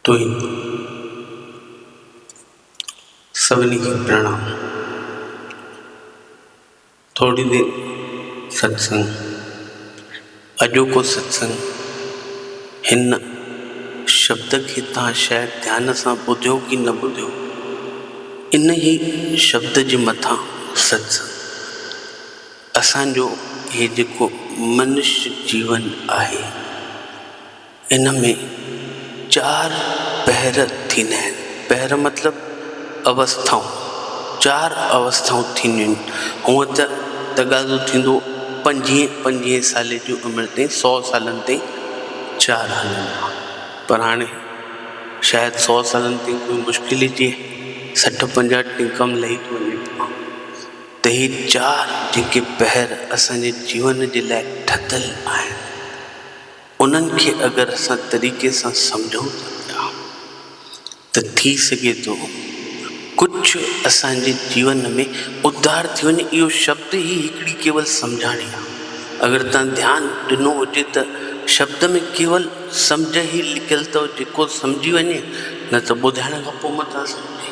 توهين سڀني کي پرڻام ٿوري دير ستسنگ اڄوڪو ستسنگ هن شبد کي تان شايد ڌيان سان ٻڌيو ڪي نه ٻڌيو انهي شبد جي مٿان ستسنگ اسان جو هي جيڪو منش جيون آهي، ان ۾ چار پهر ٿيندا آهن. پهر مطلب اوسٿائون. چار اوسٿائون ٿينديون آهن. هونء ته تقاضو ٿيندو پنجين پنجين سالي جي عمر تائين، سؤ سالن تائين چار هلندا هئا، پر هاڻي شايد سؤ سالن تائين ڪوئي مشڪل ئي ٿئي. سٺ پنجاهه ٽنڪم لهي ٿو وڃي پيو. ته هي چار جيڪي پهر اسان جي جيون جي لاء ٺتل آهن انهن کي اگر اسان طريقي سان سمجهون ٿا پيا ته ٿي سگهي ٿو ڪجهه اسان جي جيون ۾ اڌار ٿي وڃي اهو شبد ئي هڪڙي ڪيول سمجهاڻي آهي اگر توهان ڌيان ڏنو هجي ته شبد ۾ ڪيول سمجهه ئي لڪيل اٿو جيڪو سمجهي وڃي نه ته ٻڌائڻ کان پوء متان سمجهي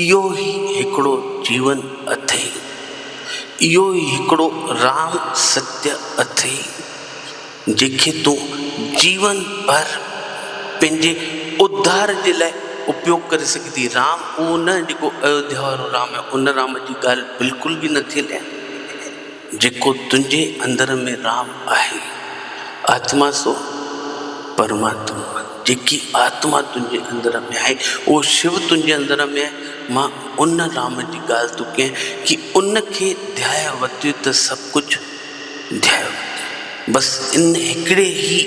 اهو ئي هڪڙو جيون اٿئي. اهو ئي هڪڙو رام ستيء اٿئي، جنهن کي تون جيون ڀر پنهنجي اڌار جي لاء اپيوگ ڪري سگهندين. رام اهو نه جيڪو ايوڌيا وارو رام آهي، ان رام جي ڳالهه بلڪل به نٿي هلي. جيڪو تنهنجي اندر ۾ رام آهي، آتما سو پرماتما، جيڪي آتما تنهنجي اندر ۾ آهي، اهو شو تنهنجي اندر ۾ آهي، مان ان رام جي ڳالهه ٿو ڪيان، ڪي ان کي ڌيائي ورتيو ته سڀ ڪجهه ڌيائي ورتو، بس ان هڪڙي ئي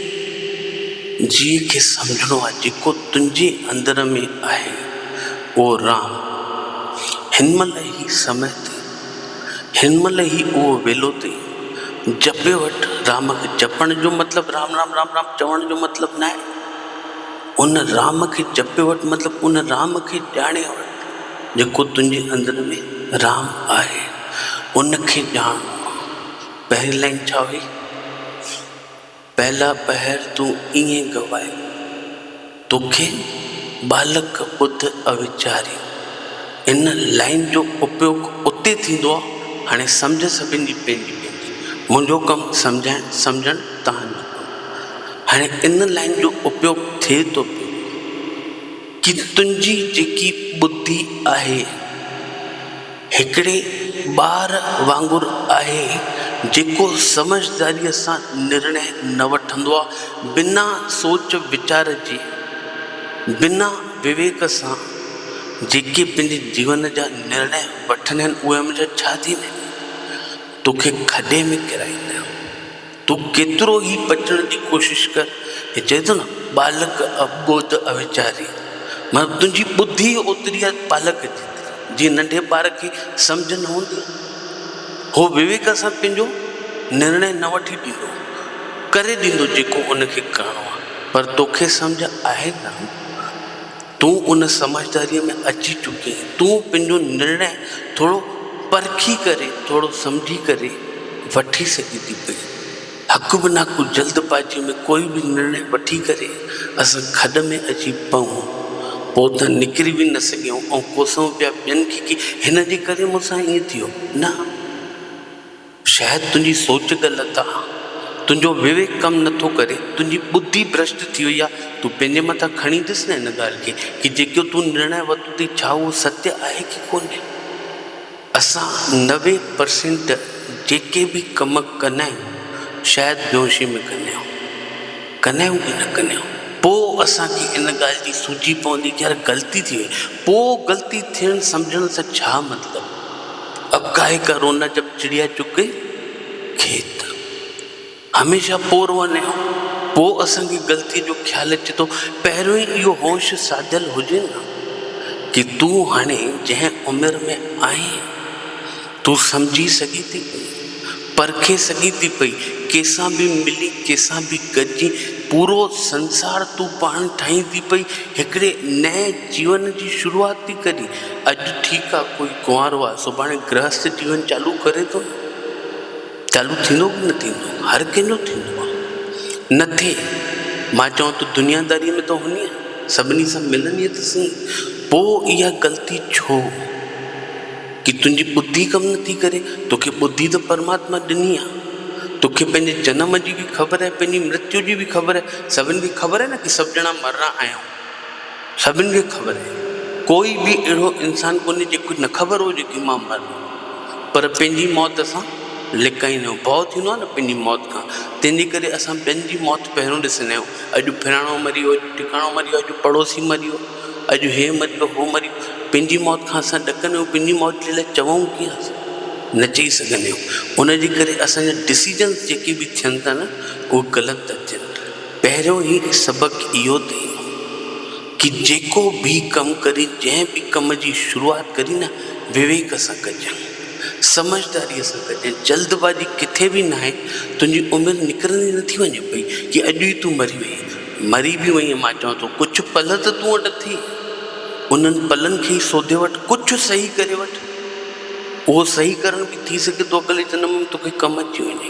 جيء کي سمجهڻو آهي، جيڪو تنهنجي اندر ۾ آهي، اهو رام هن مهل هي سمهي تي. هن مهل هي اهو ويلو تي جپي وٺ رام کي جپڻ جو مطلب رام رام رام رام چوڻ جو مطلب ناهي ان رام کي جپي وٺ مطلب ان رام کي ڄاڻي وٺ جيڪو تنهنجي اندر ۾ رام آهي ان کي ڄاڻڻو آهي پهرين لائن ڇا هئي. پهلا پهر تون ائين گوائين، توکي ٻالڪ ٻڌ اويچاري. ان لائين جو اپيوگ اتي ٿيندو آ، هاڻي سمجهه سڀن جي پنهنجي پنهنجي، منهنجو ڪم سمجهائڻ سمجهڻ توهان جو ڪم. هاڻي ان لائين جو اپيوگ ٿئي ٿو پيو. جي تنهنجي جيڪي ٻڌي آهي هڪڙي ٻار وانگر آهي جيڪو سمجهداريء سان نرڻي نه وٺندو آهي بنا سوچ ويچار جي بنا وويڪ سان جيڪي پنهنجي جيون جا نرڻي وٺن آهن اهي هميشه ڇا ٿيندا آهن توکي کڏي ۾ ڪيرائيندا آهن. تون ڪيترو ئي بچڻ جي ڪوشش ڪر، هي چئي ٿو نه، ٻالڪ اٻوڌ اويچاري، مطلب تنهنجي ٻڌي اوتري آهي ٻالڪ جيتري، جيئن ننڍي ٻار کي سمجهه نه هوندي آهي، هو وويڪ سان پنهنجو نرڻي نه وٺي ڏيندو، ڪري ڏيندو جيڪو ان کي ڪرڻو آهي، پر توکي سمجهه آهي ڪانه. تون ان سمجهداريء ۾ اچي چڪي آهين، تون پنهنجو نرڻي ٿورو پرکي ڪري، ٿورو سمجهي ڪري وٺي سگهين ٿي پئي. هڪ به نه ڪو جلد بازيء ۾ ڪوئي به نرڻي وٺي ڪري اسان کڏ ۾ اچي پئون. پوء ته نڪري به نه سگهيون ۽ ڪوسون پيا ٻين کي ڪي هن جي ڪري مون سان ائين ٿيو. نه! شايد تنهنجي سوچ غلط آ، تنهنجو وويڪ ڪم نٿو ڪري، تنهنجي ٻڌي برشٽ ٿي وئي آ، تون پنهنجي مٿان کڻي ڏس نه ان ڳالهه کي ڪي جيڪو تون نرڻي ورتو ٿي ڇا اهو ستي آهي ڪي ڪونهي. اسان نوي پرسينٽ جيڪي به ڪم ڪندا آهيون شايد بيهوشي ۾ ڪندا آهيون، ڪندا آهيون ڪي نه ڪندا آهيون، پوء اسان کي ان ڳالهه جي سوجهي پوندي ڪي يار غلطي ٿي وئي، پوء غلطي ٿيڻ سمجهڻ سان ڇا مطلب. اڪائي ڪر ان جب چڙيا چگ گئي کيت. هميشه پور وڃي ها پوء اسان کي غلطي جو خيال اچي ٿو پهريون ئي اهو هوش ساڌيل هجي ها ڪي تون هاڻي جنهن عمر ۾ آهين تون سمجهي سگهين ٿي پئي پرکي سگهين ٿي پئي ڪيسان به ملي ڪيسان به گڏجي پورو سنسار تون پاڻ ٺاهين ٿي پئي هڪڙي نئين جيون جي شروعات ٿي ڪري. اڄ ٺيڪ آ ڪوئي ڪنوارو آ سڀاڻي گرهست جيون چالو ڪري ٿو نه چالو ٿيندو ڪي نه ٿيندو هر ڪنهن جو ٿيندو آ نه ٿئي مان چوان ٿو دنيا داري ۾ ته هونيئي سڀني سان ملنديئي ته سهي پو اها غلطي ڇو ڪي تنهنجي ٻڌي ڪم نه ٿي ڪري توکي ٻڌي ته پرماتما ڏني آ توکي پنهنجي جنم جي به خبر آهي پنهنجي مرتيو جي به خبر آهي سڀن کي خبر آهي نه ڪي سڀ ڄڻا مرڻا آهيون سڀن کي خبر آهي ڪوئي به اهڙو انسان ڪونهي جيڪو نه خبر هجي ڪي مان مرڻو آهي پر پنهنجي موت سان لڪائيندو آهي ڀؤ ٿيندو آهي نه پنهنجي موت کان تنهنجي ڪري اسان ٻين جي موت پهريون ڏسندا آهيون اڄ فلاڻو مري ويو اڄ ٽڪاڻو مري ويو اڄ پڙوسي مري ويو اڄ هي مري ويو هو مري ويو پنهنجي موت کان اسان ڏڪندا آهيون پنهنجي موت جي لاء چوون ڪيئن اسان نه چئي سگهندا آهيون ان جي ڪري اسان جا ڊسيزنس جيڪي به ٿين ٿا نه اهي غلط ٿا ٿين پهريون ئي سبق اهو ٿئي ڪي جيڪو به ڪم ڪرين جنهن به ڪم جي شروعات ڪرين نه وويڪ سان ڪجين سمجهداري سان ڪجين جلد بازي ڪٿي به ناهي تنهنجي عمر نڪرندي نٿي وڃي پئي ڪي اڄ ئي تون مري وئين مري به وئين مان چوان ٿو ڪجهه پل ته تون وٽ اٿئي انهن پلن کي ئي سوڌي وٺ ڪجهه صحيح ڪري وٺ اهو صحيح ڪرڻ به ٿي سگهي ٿو اڪلي جنم ۾ توکي ڪم اچي وڃي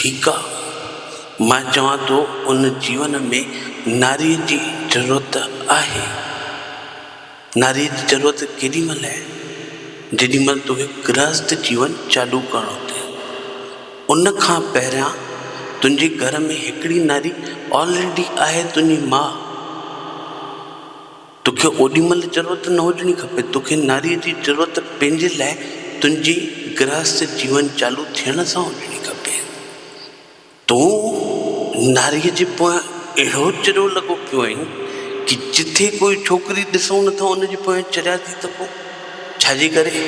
ٺيڪ آ مان چوان ٿو ان جيون ۾ ناريء جي ضرورت آهي. ناريء جي ضرورت ڪيڏي مهل آهي؟ جيڏي مهل توکي گرهست جيون چالو ڪرڻو اٿئي. ان کان پهريان تنهنجي گهر ۾ هڪڙي ناري آلريڊي آهي تنهنجي ماء. توکي اوڏي مھل ضرورت نه ھجڻي کپي. توکي ناريء جي ضرورت پنھنجي لاء تنھنجي گرھست جيون چالو ٿيڻ سان ھجڻي کپي. تون ناريء جي پويان اھڙو چريو لڳو پيو آھين ڪي جتي ڪوئي ڇوڪري ڏسون نه ٿا ان جي پويان چريا ٿي ته پوء ڇا جي ڪري؟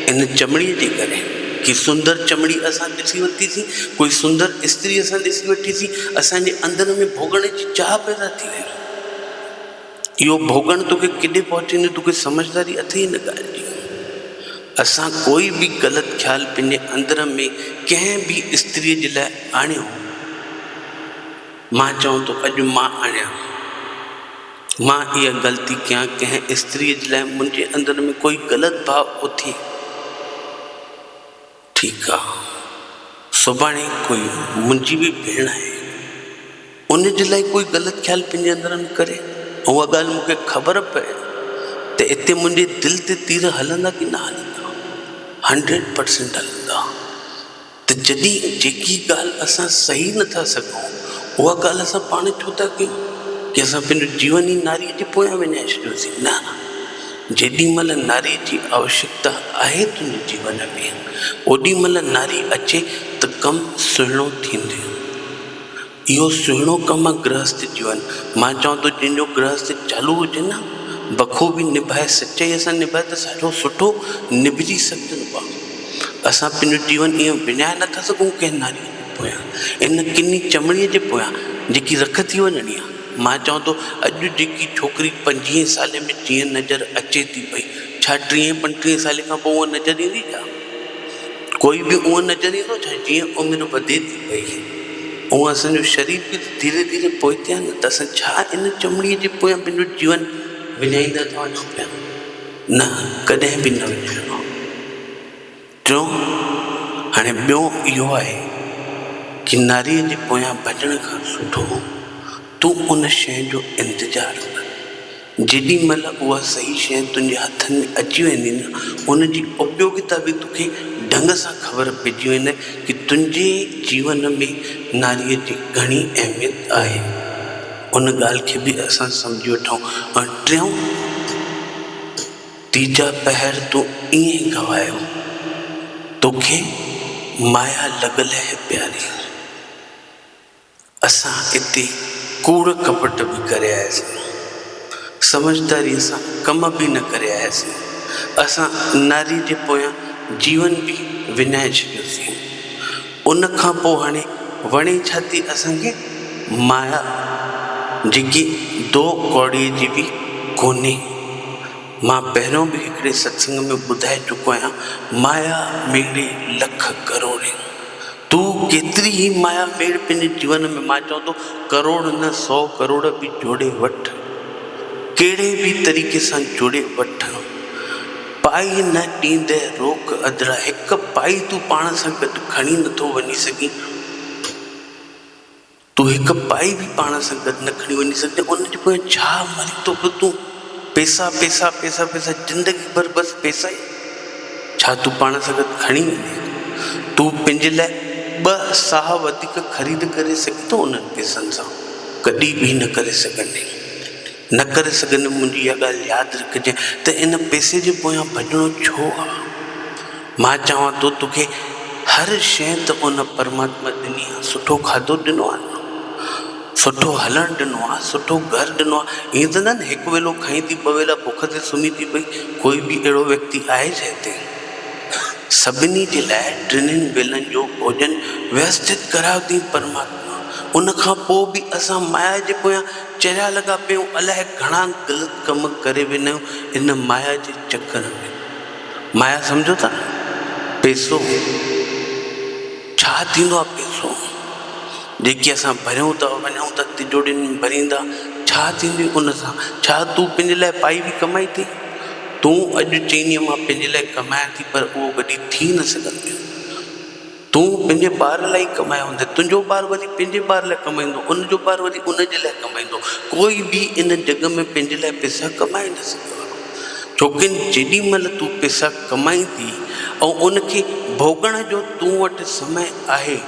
ان چمڙيء جي ڪري. ڪي سندر چمڙي اسان ڏسي ورتي سين، ڪوئي سندر استري اسان ڏسي وٺي سين، اسان جي اندر ۾ ڀوڳڻ جي چاھه پيدا ٿي وئي. اهو ڀوڳڻ توکي ڪيڏي پهچيندو توکي سمجهداري اٿئي ان ڳالهه جي. اسان ڪوئي به غلط خيال پنهنجي اندر ۾ ڪنهن به استريء جي لاء آڻيو هو. مان چوان ٿو اڄ مان آڻيان ٿو. مان اها غلطي ڪيان ڪنهن استريء جي لاء منهنجي اندر ۾ ڪوئي غلط ڀاء اٿئي. ٺيڪ آ سڀاڻي ڪوئي منھنجي به ڀيڻ آھي ان جي لاء ڪوئي غلط خيال پنھنجي اندر نه ڪري ۽ اھا ڳالھ مون کي خبر پئي ته اتي منھنجي دل تي تير ھلندا ڪي نه ھلندا ھنڊريڊ پرسينٽ ھلندا ته جڏھن جيڪي ڳالھ اسان سھي نه ٿا سگھون اھا ڳالھ اسان پاڻ ڇو ٿا ڪيون ڪي اسان پنھنجو جيون ئي ناري جي پويان وڃائي ڇڏيوسين نه جيڏي مھل ناري جي آوشڪتا آھي تنھنجي جيون ۾ اوڏي مھل ناري اچي ته ڪم سهڻو ٿيندي. اهو سهڻو ڪم آ گرهست جيون. مان چوان ٿو جنھن جو گرهست چالو هجي نه بخوبي نڀائي سچائيء سان نڀائي ته ساجو سٺو نڀجي سگهجندو آ. اسان پنھنجو جيون ائين وڃائي نه ٿا سگهون ڪنھن ناريء جي پويان ان ڪني چمڙي جي پويان جيڪي رک ٿي وڃڻي آ. مان چوان ٿو اڄ جيڪي ڇوڪري پنجيهين سالي ۾ جيئن نظر اچي ٿي پئي ڇا ٽيهين پنٽيهين سالي کان پوء اونهن نظر ايندي ڇا؟ ڪوئي به اونهن نظر ايندو ڇا؟ جيئن عمر وڌي ٿي پئي اونهن اسان جو شرير به ته ڌيري ڌيري پوئتي آهي نه ته اسان ڇا ان چمڙي جي پويان پنهنجو جيون وڃائيندا ٿا وڃون پيا؟ نه ڪڏهن به نه وڃائڻو. ٽيون هاڻي ٻيو اهو آهي ڪي ناريء جي پويان ڀڄڻ کان سٺو تون ان شيء جو انتظار ڪر جيڏي مهل اها صحيح شيء تنهنجي هٿن ۾ اچي ويندي نه ان جي اپيوگتا به توکي ڍنگ سان خبر پئجي ويندي ڪي تنهنجي جيون ۾ ناريء جي گهڻي اهميت آهي ان ڳالهه کي به اسان سمجهي وٺون ۽ ٽيون تيجا پهر تون ائين گوايو. توکي مايا لڳل هي پياري. اسان اتي ڪوڙ ڪپٽ به ڪري آياسين. سمجهداريء سان ڪم به نه ڪري آياسين. اسان ناري جي پويان جيون به وڃائي ڇڏيوسين. ان کان پوء هڻي وڻي ڇا ٿي اسان کي مايا جيڪي دو ڪوڙيء جي به ڪونهي. مان پهريون به هڪڙي ستسنگ ۾ ٻڌائي چڪو آهيان مايا ميڙي لک ڪروڙين تون ڪيتري هي مايا ميڙ پنهنجي جيون ۾ مان چوان ٿو ڪروڙ نه سو ڪروڙ به جوڙي وٺ ڪهڙي به طريقي سان جوڙي وٺ. پائي نه ڏيندئه روڪ اڌرا. هڪ پائي تون پاڻ سان گڏ کڻي نه ٿو وڃي سگهين. تون هڪ پائي به پاڻ سان گڏ نه کڻي وڃي سگهين. ان جي پويان ڇا مري ٿو پيو تون؟ پيسا پيسا پيسا پيسا زندگي ڀر بس پيسا ئي. ڇا تون پاڻ سان گڏ کڻي ويندين؟ تون پنهنجي لاء ٻه ساهه وڌيڪ خريد ڪري سگهين ٿو انهن پيسن سان؟ ڪڏهن به نه ڪري سگهندين. نه ڪري سگهندم، منهنجي اها ڳالهه ياد رکجانء ته ان پئسي جي پويان ڀڄڻو ڇو آ؟ مان چوان ٿو توکي هر شيء ته ان پرماتما ڏني آ، سٺو کاڌو ڏنو آ نه، سٺو هلڻ ڏنو آ، سٺو گهر ڏنو آ، ائين ته نه نه هڪ ويلو کائين ٿي ٻه ويلا بک تي سمهين ٿي پئي، ڪوئي به اهڙو ويڪتي آهي جنهن تي سڀني جي لاء ٽنهين ويلن جو ڀوڄن ويوستت ڪرايو اٿئين پرماتما ان کان پوء به اسان مايا جي پويان چريا لڳا پيو الاهي گهڻا غلط ڪم ڪري وينيو ان مايا جي چڪر ۾ مايا سمجهو ٿا نه پيسو ڇا ٿيندو آ پيسو جيڪي اسان ڀريون ٿا وڃون ٿا تجوڙين ۾ ڀريندا ڇا ٿيندي ان سان ڇا تون پنهنجي لاء پائي به ڪمائي ٿي تون اڄ چئيني مان پنهنجي لاء ڪمايان ٿي پر اهو وڏي ٿي نه سگهندي. تون پنهنجي ٻار لاء ئي ڪمايو هوندين، تنهنجو ٻار وري پنهنجي ٻار لاء ڪمائيندو، ان جو ٻار وري ان جي لاء ڪمائيندو، ڪوئي به ان جڳ ۾ پنهنجي لاء پئسا ڪمائي نه سگهيو آهي، ڇوڪه جيڏي مهل تون پئسا ڪمائيندي ۽ ان کي ڀوڳڻ جو تون وٽ سمي آهي،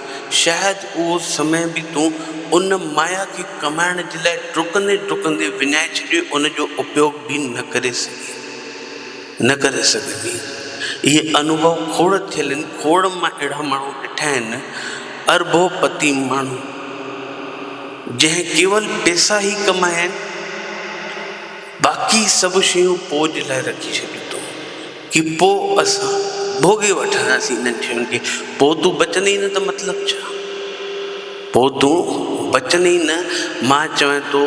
شايد اهو سمي به تون ان مايا کي ڪمائڻ جي لاء ڊڪندي ڊڪندي وڃائي ڇڏيو ان جو اپيوڳ به نه ڪري سگهين. نه ڪري سگهبي. اهي انوڀو کوڙ ٿيل آهن، کوڙ مان اهڙا ماڻهو ڏٺا آهن، اربو پتي ماڻهو، جنهن ڪيول پئسا ئي ڪمايا آهن، باقي سڀ شيون پوء جي لاء رکي ڇڏيون اٿئون، ڪي پوء اسان ڀوڳي وٺنداسين انهن شين کي، پوء تون بچندين ئي نه ته مطلب ڇا؟ پوء تون بچندين ئي نه، مان چوين ٿو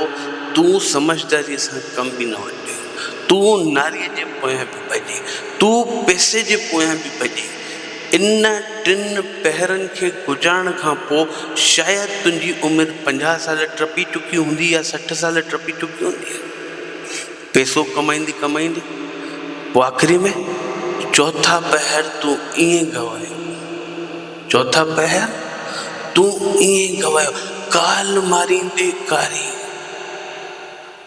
تون سمجهداريء سان ڪم به نه وٺجانء. تون ناريء جي پويان به ڀڄي، تون پئسي جي پويان به ڀڄي، ان ٽن پهرن کي گذارڻ کان پوء شايد تنهنجي عمر پنجاهه سال ٽپي چڪي هوندي يا سٺ سال ٽپي چڪي هوندي. پئسو ڪمائيندي ڪمائيندي پوء آخري ۾ چوٿا پهر تون ائين گوايو. چوٿا پهر تون ائين گوايو، ڪال ماريندي ڪاري.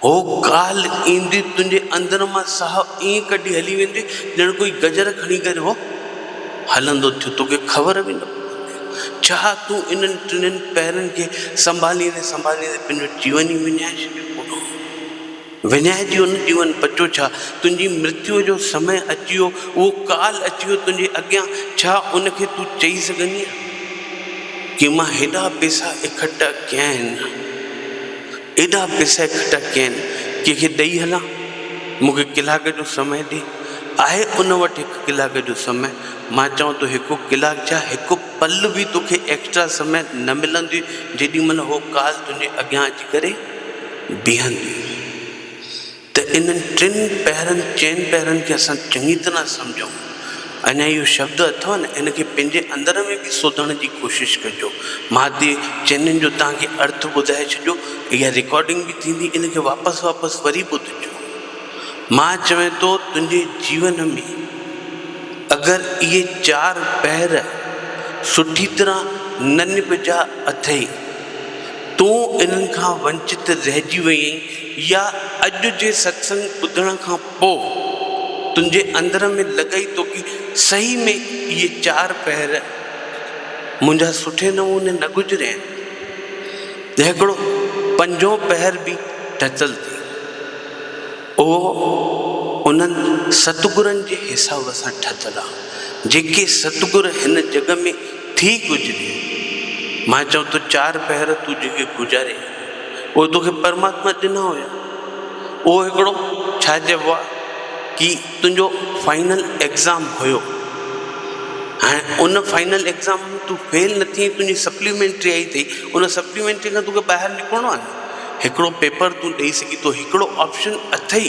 هو ڪالهه ايندي تنهنجي اندر مان ساهه ائين ڪڍي هلي ويندي ڄڻ ڪوئي گجر کڻي ڪري هو هلندو ٿيو توکي خبر به نه پوندي. ڇا تون انهن ٽنهن پهرن کي سنڀاليندي سنڀاليندي پنهنجو جيون ئي وڃائي ڇڏيو پورو وڃائجي ويو نه جيون بچو ڇا تنهنجي مرتيو جو سمي اچي ويو اهو ڪالهه اچي ويو تنهنجي اڳيان ڇا ان کي تون چئي سگهندينء ڪي مان هيڏا پيسا اڪٺا ڪيا آهن. ايڏا پيسا اڪٺا ڪيا آهن، ڪنهن کي ڏئي هلان؟ مون کي ڪلاڪ جو سمئي ڏي. آهي ان وٽ هڪ ڪلاڪ جو سمئي؟ مان چوان ٿو هڪ ڪلاڪ ڇا، هڪ پل به توکي ايڪسٽرا سمئي نه ملنديئي، جيڏي مهل هوء ڪال تنهنجي اڳيان اچي ڪري بيهنديئي. ته انهن ٽن پهرن، چئن پهرن کي اسان چڱي طرح سمجهون. اڃا اهو شبد اٿو نه، ان کي پنهنجي اندر ۾ به سوڌڻ جي ڪوشش ڪجو. مان تي چئنين جو توهان کي ارٿ ٻڌائي ڇڏيو. اها رڪارڊنگ به ٿيندي، ان کي واپس واپس وري ٻڌجو. مان چوين ٿو تنهنجي جيون ۾ اگر اهي چار پهر سٺي طرح نه نبجها اٿئي تون انهن کان ونچت رهجي وئين يا اڄ جي ستسنگ ٻڌڻ کان پوء تنهنجي اندر ۾ لڳئي ٿو ڪي صحيح ۾ اهي چار پهر منهنجا سٺي نموني نه گذريا آهن ته هڪڙو پنجون پهر به ٽچل ٿئي اهو انهن ستگرن جي حساب سان ٺتل آهي جيڪي ستگر هن جڳ ۾ ٿي ڪجهه ڏي. ماهه چيو ته چار پهر تون جيڪي گذاري اهي توکي پرماتما ڏنا هيا اهو هڪڙو ڇا چئبو آهي ڪي تنهنجو فائنل ايگزام هيو هاڻي ان فائنل ايگزام ۾ تون فيل نه ٿئين تنهنجي سپليمينٽري آئي اٿئي ان سپليمينٽري کان توکي ٻاهر نڪرڻو آهي نه هڪڙو پيپر تون ڏئي سگهين ٿو هڪڙو آپشن اٿئي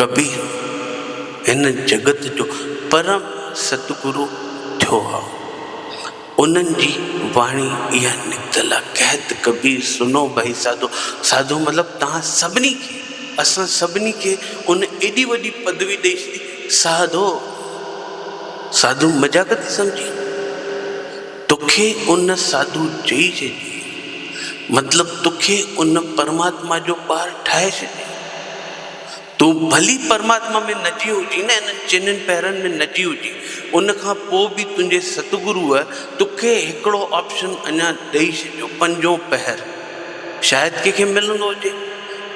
ڪبي هن جڳت جو پرم ستگرو ٿيو هو. انهن جي واڻي اها نڪتل آ، ڪهت ڪبير سنو ڀئي ساڌو، ساڌو مطلب توهان سڀني کي، اسان سڀني کي ان ايڏي وڏي پدوي ڏئي ڇڏي، ساڌو! ساڌو مذاق ٿي سمجهي؟ توکي ان ساڌو چئي ڇڏي، مطلب توکي ان پرماتما جو ٻار ٺاهي ڇڏي. تون ڀلي پرماتما ۾ نجي هجين ۽ انهن چئنن پهرن ۾ نجي هجين، ان کان پوء به تنهنجي ستگروء توکي هڪڙو آپشن اڃا ڏئي ڇڏيو، پنجون پهر. شايد ڪنهن کي ملندو هجي،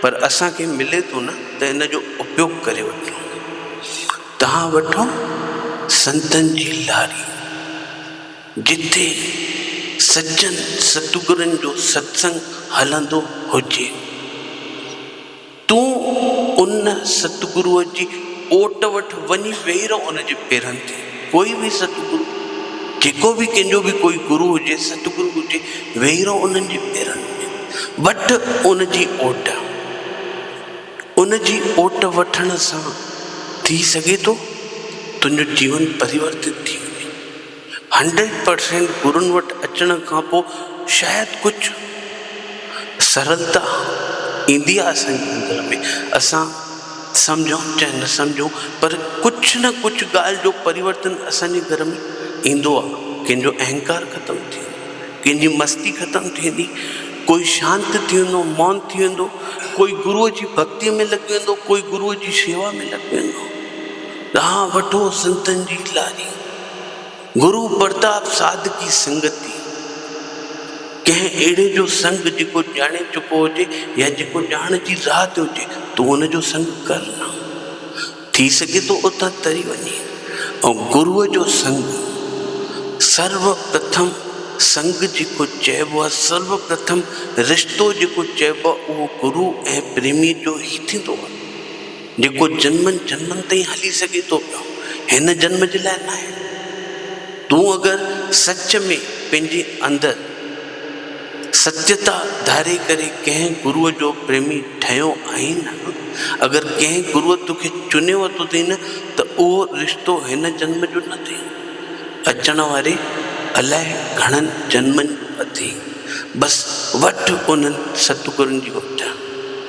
پر اسان کي ملي ٿو نه ته ان جو اپيوگ ڪري وٺون. تهان وٺو سنتن جي لاري، جتي سچن ستگرن جو ستسنگ هلندو هجي. تون ان ستگروء جي اوٽ وٽ وڃي ويهي رهه ان جي پيرن تي. ڪوئي به ستگرو، جيڪو به ڪنهن جو به ڪوئي گرو هجي، ستگرو هجي، ويهي رهه انهن جي پيرن تي. وٺ ان جي اوٽ. ان جي اوٽ وٺڻ سان ٿي سگهي ٿو تنهنجو جيون پريورتت ٿي وڃي. هنڊريڊ پرسينٽ گرن وٽ اچڻ کان پوء شايد ڪجهه سرلتا ايندي آهي اسان جي اندر ۾ اسان سمجهون چاهي نه سمجهون پر ڪجهه نه ڪجهه ڳالهه جو پريورتن اسان جي گهر ۾ ايندو آهي ڪنهن جو اهنڪار ختم ٿيندو ڪنهن جي مستي ختم ٿيندي ڪوئي شانت ٿي ويندو مون ٿي ويندو ڪوئي گروء جي ڀڳتي ۾ لڳي ويندو ڪوئي گروء جي شيوا ۾ لڳي ويندو ڏانهن وٺو سنتن جي لاري گرو پرتاب صادقي سنگتي، ڪنهن اهڙي جو سنگ جيڪو ڄاڻي چڪو هجي يا جيڪو ڄاڻ جي راهه تي هجي، تون ان جو سنگ ڪر نه. ٿي سگهي ٿو اتان تري وڃين. ۽ گرو جو سنگ، سرو پرٿم سنگ جيڪو چئبو آهي، سرو پرٿم رشتو جيڪو چئبو آهي، اهو گرو ۽ پريميء جو ئي ٿيندو آهي. جيڪو جنمن جنمن تائين هلي سگهي ٿو پيو، هن جنم جي لاء ناهي. تون اگر سچ ۾ پنهنجي اندر ستيتا ڌاري ڪري ڪنهن گروء جو پريمي ٺهيو آهين نه، اگر ڪنهن گروء توکي چوني ورتو اٿئي نه ته اهو رشتو هن جنم جو نه اٿئي، اچڻ واري الائي گهڻن جنمن جو اٿئي. بس وٺ انهن ستگرن جي اپجاء.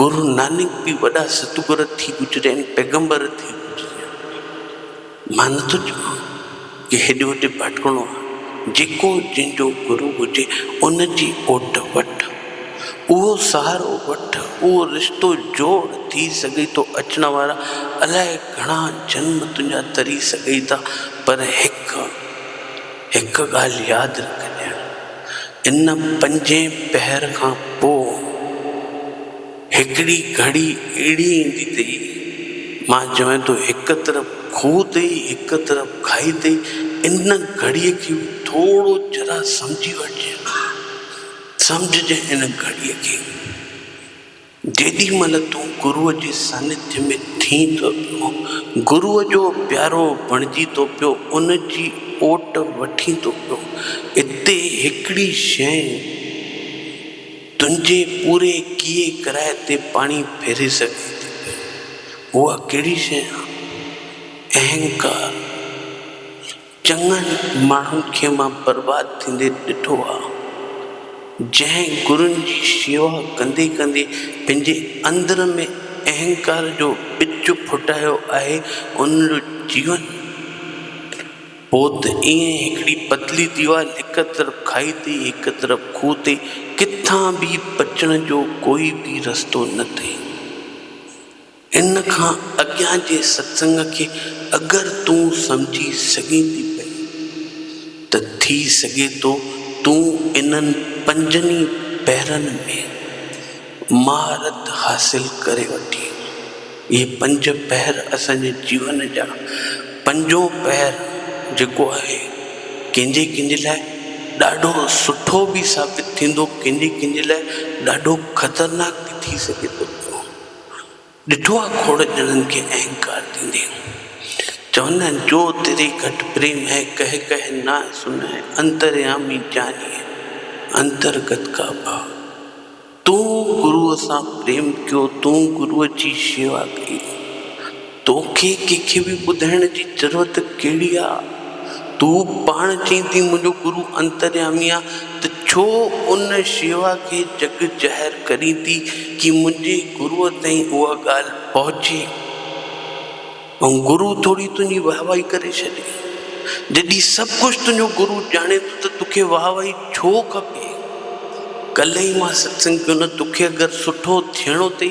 گرو نانڪ به وڏا ستگر ٿي گذريا آهن، پيغمبر ٿي گذريا آهن. مان نه ٿو چوان جو هيڏي هوڏي ڀٽڪڻو آهي. جيڪو جنهن جو گرو هجي ان جي اوٽ وٺ، اهو سهارو وٺ، اهو رشتو جوڙ، ٿي سگهي ٿو اچڻ وارا الاء گهڻا جنم تنهنجا تري سگهي ٿا پر هڪ هڪ ڳالهه ياد رکجي. ان پنجين پهر کان پوء هڪڙي گهڙي اهڙي ايندي تي مان جوئين ته هڪ طرف کوهه تي هڪ طرف کاهي تي ان گهڙي کي به ٿورو ذرا سمجهي وٺجي سمجهجي ان گهڙي کي. جيڏي مھل تون گروء جي سانيڌي ۾ ٿين ته اھو گروء جو پيارو بڻجي ٿو پيو، ان جي اوٽ وٺين ٿو پيو. اتي ھڪڙي شيء تنھنجي پوري ڪيئي ڪرائي تي پاڻي ڦيري سگھي ٿي پئي. اھا ڪھڙي شيء آھي؟ اھنڪار. چڱن ماڻهن کي مان برباد ٿيندي ڏٺو آ، جنهن گرن جي شيوا ڪندي ڪندي پنهنجي اندر ۾ اهنڪار جو ٻج ڦٽايو آهي، ان جو جيون پوت ائين هڪڙي پتلي ديوار، هڪ طرف کاهي تي هڪ طرف کوهه تي، ڪٿان به بچڻ جو ڪوئي به رستو نه اٿئي. ان کان اڳيان جي ستسنگ کي اگر تون سمجهي سگهين ٿي پئي ته ٿي سگهي ٿو تون انهن پنجن ئي پهرن ۾ مهارت حاصل ڪري وٺين. اهي پنج پهر اسان جي جيون جا پنجون پهر جيڪو آهي ڪنهن جي ڪنهن جي لاء ڏاڍو سٺو به ثابت ٿيندو ڪنهن جي ڪنهن جي لاء ڏاڍو خطرناڪ به ٿي سگهي ٿو پيو. ڏٺو آ کوڙ ڄڻن کي اهنڪار ڏيندي هو. چوندا آهن جو تري گهٽ پريم هي ڪهه ڪهه نه سن هي انتريامي جاني هي انترگت ڪا ڀاء. تون گروء سان پريم ڪيو تون گروء جي شيوا ڪئي. توکي ڪنهن کي به ٻڌائڻ جي ضرورت ڪهڙي آ؟ تون پاڻ چئين ٿي منهنجو گرو انتريامي آ ته ڇو ان شيوا کي جڳ ظاهر ڪرين ٿي ڪي منهنجي گرو تائين اها ڳالهه پهچي ۽ گرو ٿوري تنهنجي واهه واهي ڪري ڇڏي. جڏهن سڀ ڪجهه تنهنجو گرو ڄاڻي ٿو ته توکي واهه واهي ڇو کپي؟ ڪلهه ئي مان ستسنگ ڪيو نه توکي اگر سٺو ٿيڻو اٿئي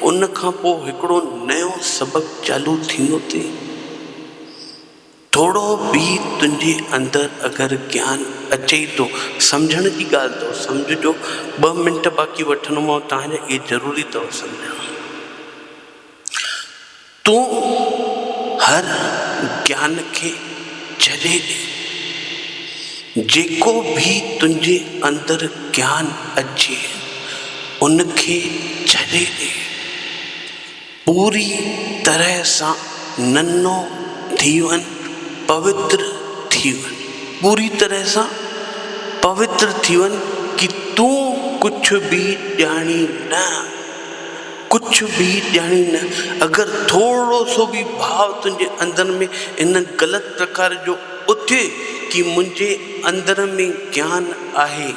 ان کان پوء هڪڙو نيو سبق چالو ٿيندو ٿئي. ٿورو به تنهنجي اندر اگر گيان اچئي ٿو، سمجهڻ جي ڳالهه اٿو، سمجهجو، ٻه منٽ باقي وٺندومانو، تنهنجي اهي ضروري اٿو سمجهڻ. تون هر جان کي ڇڏي ڏي. جيڪو به تنهنجي اندر جان اچي ان کي ڇڏي ڏي. پوري طرح سان ننو ٿي وڃ، پوتر ٿي وڃ. پوري طرح سان پوتر ٿي وڃ ڪي تون ڪجهه به ڄاڻين نه. ڪجهه به ڄاڻين نه، اگر ٿورڙو سو به ڀاء تنهنجي اندر ۾ ان غلط پرڪار جو اٿئي ڪي منهنجي اندر ۾ گيان آهي،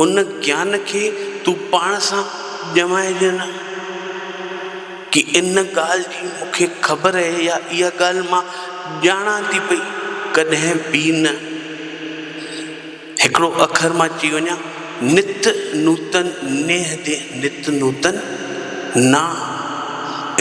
ان گيان کي تون پاڻ سان ڄمائجي نه، ڪي ان ڳالهه جي مون کي خبر اهي يا اها ڳالهه مان ڄاڻان ٿي پئي، ڪڏهن به نه. هڪڙو اکر مان چئي وڃان، نت نوتن نيهه دي نت نوتن نانء.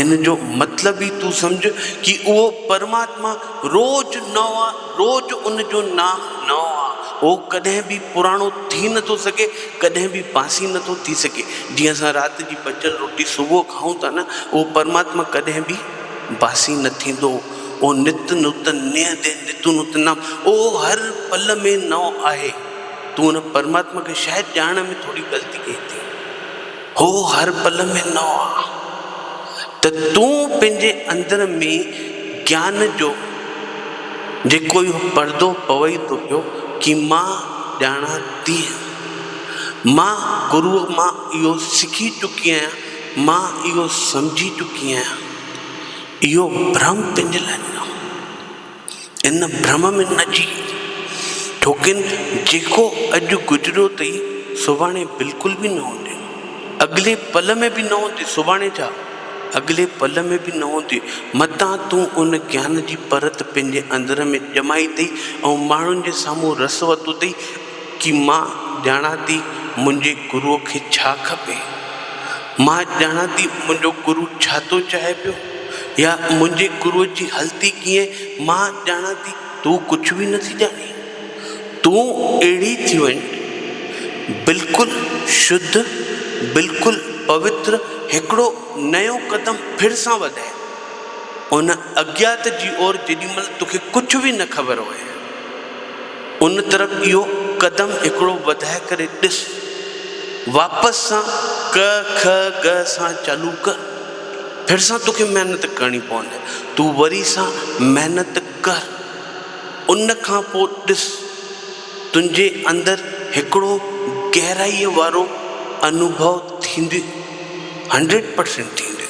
ان جو مطلب ئي تون سمجهه ڪي اهو پرماتما روز نئون آ، روز ان جو نانء نئون آ. هو ڪڏهن به پراڻو ٿي نه ٿو سگهي، ڪڏهن به بانسي نه ٿو ٿي سگهي. جيئن اسان رات جي بچيل روٽي صبح کائون ٿا نه، اهو پرماتما ڪڏهن به بانسي نه ٿيندو. او نت نت نيهه دي نتون نت نام او هر پل ۾ نئو آهي تون ان پرماتما کي شايد ڄاڻڻ ۾ ٿوري غلطي ڪئي ٿي هو هر پل ۾ نئو آ ته تون پنهنجي اندر ۾ گيان جو جيڪو اهو پردو پوئي ٿو پيو ڪي مان ڄاڻان تي مان گروء مان اهو سکي چڪي آهيان مان اهو سمجهي چڪي آهيان اهو ڀرم تنهنجي لاء نه هو. ان ڀرم ۾ نه جي. ڇوڪن جيڪو اڄ گذريو ٿئي سڀاڻي بلڪل به نه هوندي. اڳلي پل ۾ به نه هوندي سڀاڻي ڇا اڳلي پل ۾ به نه هوندي. متان تون ان گيان جي پرت پنهنجي اندر ۾ ڄمائي اٿئي ۽ ماڻهن جي سامهون رس وتو اٿئي. ڪي مان ڄاڻان ٿي منهنجي گروء کي ڇا کپي. مان ڄاڻان ٿي منهنجو گرو ڇا ٿو چاهي پيو يا منهنجي گروء جي هلتي ڪيئن مان ڄاڻان ٿي تون ڪجهه به نه ٿي ڄاڻين. تون اهڙي ٿي وڃ بلڪل شڌ بلڪل پوتر هڪڙو نيو قدم ڦر سان وڌاء ان اجيات جي اور جيڏي مهل توکي ڪجهه به نه خبر هئي. ان طرف اهو قدم هڪڙو وڌائي ڪري ڏس. واپس سان ڪ، کء، ڳ سان چالو ڪر. ڦر سان توکي محنت ڪرڻي پوندي. تون وري سان محنت ڪر. ان کان پوء ڏس. تنهنجي اندر هڪڙو گهرائيء وارو انوڀو ٿيندي. هنڊريڊ پرسينٽ ٿيندي.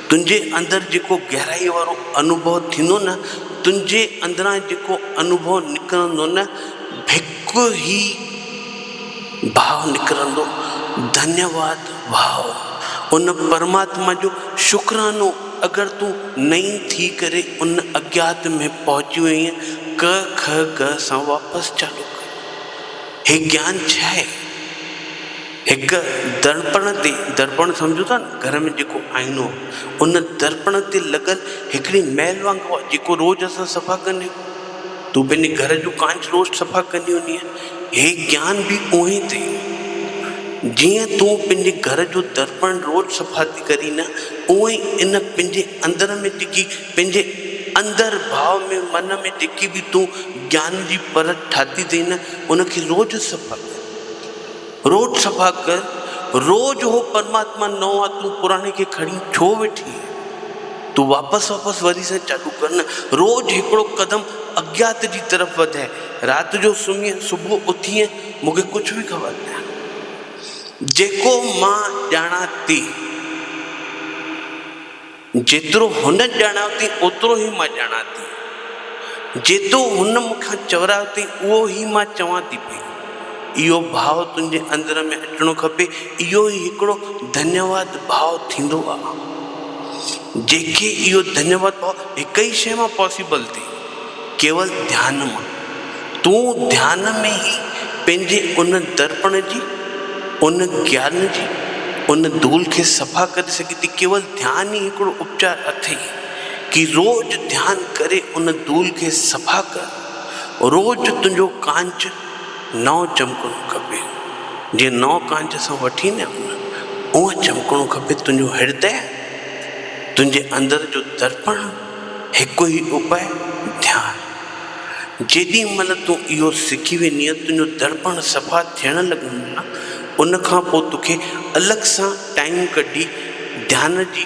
تنهنجي اندر جيڪو گهرائيء وارو انوڀو ٿيندو نه، تنهنجي اندران جيڪو انوڀو نڪرندو نه، ڀڪ هي ڀاء نڪرندو. ڌنيه واد ڀاء! ان پرماتما جو شڪرانو اگر تون نئين ٿي ڪري ان اگيات ۾ پهچي وئين ڪ که ڳ سان واپس چالو ڪر. هي گيان ڇا آهي؟ هڪ درپڻ تي، درپڻ سمجهو ٿا نه گهر ۾ جيڪو آئينو ان درپڻ تي لڳل هڪڙي مئل وانگو آهي جيڪو روز اسان صفا ڪندا آهيون. تون پنهنجي گهر جو ڪانچ روز صفا ڪندي هوندينء. هي گيان به اونهي ٿئي. جيئن تون پنهنجي گهر جو درپڻ روز صفا ٿي ڪرين نه اونهي ئي ان پنهنجي اندر ۾ جيڪي پنهنجي اندر ڀاء ۾ من ۾ جيڪي به تون گيان جي پرت ٺاهي ٿئي نه ان کي روز صفا ڪر. روڄ صفا ڪر، روڄ هو پرماتما نئون آ تون پراڻي کي کڻي ڇو ويٺي آهين؟ تون واپس واپس وري سان چالو ڪر نه، روڄ هڪڙو قدم اجيات جي طرف وڌئي، رات جو سمهين صبح اٿينء مون کي ڪجهه به خبر نه آهي. جيڪو مان ڄاڻان تي. جيترو هن ڄاڻايو اٿئي اوترو ئي مان ڄاڻان ٿي. جيترو هن مون کان چورايو اٿئي اهو ئي مان چوان ٿي پئي. اهو ڀاء تنهنجي اندر ۾ اچڻو کپي. اهو ئي هڪڙو ڌنيواد ڀاء ٿيندو آ. جنهن کي اهو ڌنيواد ڀاء هڪ ئي شيء مان پاسيبل ٿي. ڪيول ڌيان مان، تون ڌيان ۾ ئي پنهنجي ان درپڻ جي، ان گيان جي، ان دول کي صفا ڪري سگهين ٿي. ڪيول ڌيان ئي هڪڙو اپچار اٿئي ڪي روز ڌيان ڪري ان دول کي صفا ڪر، روز تنهنجو ڪانچ نئون چمڪڻو کپي، جيئن نئون ڪانچ اسان وٺي نه ايون اونهن چمڪڻو کپي تنهنجو هردئه، تنهنجي اندر جو درپڻ. هڪ ئي اپاء، ڌيان. جيڏي مهل تون اهو سکي ويندينء، تنهنجو دڙپڻ صفا ٿيڻ لڳندو نه، ان کان پوء توکي الڳ سان ٽائيم ڪڍي ڌيان جي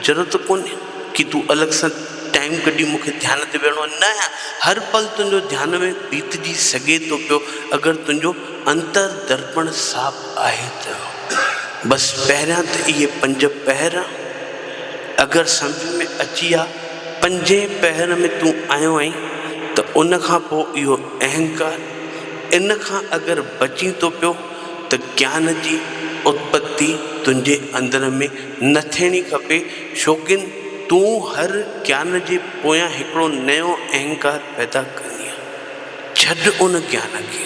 ضرورت ڪونهي ڪي تون الڳ سان ٽائيم ڪڍي مون کي ڌيان تي ويهڻو آهي، نه هر پل تنهنجو ڌيان ۾ بيتجي سگهي ٿو پيو اگر تنهنجو انتر دڙپڻ صاف آهي ته. بس پهريان ته اهي پنج پهر. اگر سمجهه ۾ اچي ها پنجين پهر ۾ تون آيو آهين ته ان کان پوء اهو اهنڪار ان کان اگر بچين ٿو پيو ته گيان جي اتپتي تنهنجي اندر ۾ نه ٿيڻي کپي شوقين تون هر گيان جي پويان هڪڙو نيو اهنڪار پيدا ڪندينء. ڇڏ ان گيان کي،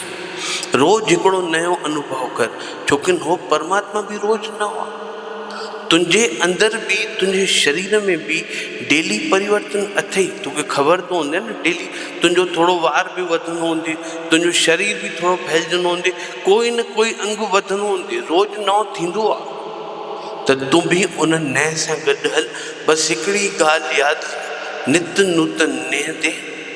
روز هڪڙو نيون انوڀو ڪر، ڇوڪن هو پرماتما به روز نه هئا. تنهنجي اندر به تنهنجي شرير ۾ به ڊيلي پريورتن اٿئي، توکي خبر ته هوندي نه ڊيلي تنهنجو ٿورو وار به وڌندو هوندي، تنهنجو شرير به ٿورو ڦهلجندو هوندي، ڪوئي نه ڪوئي انگ وڌندو هوندي، روز نئون ٿيندو آ. ته تون به ان نئين سان گڏ هل، بس هڪڙي ئي ڳالهه ياد رک، نت نوتن نيهه تي.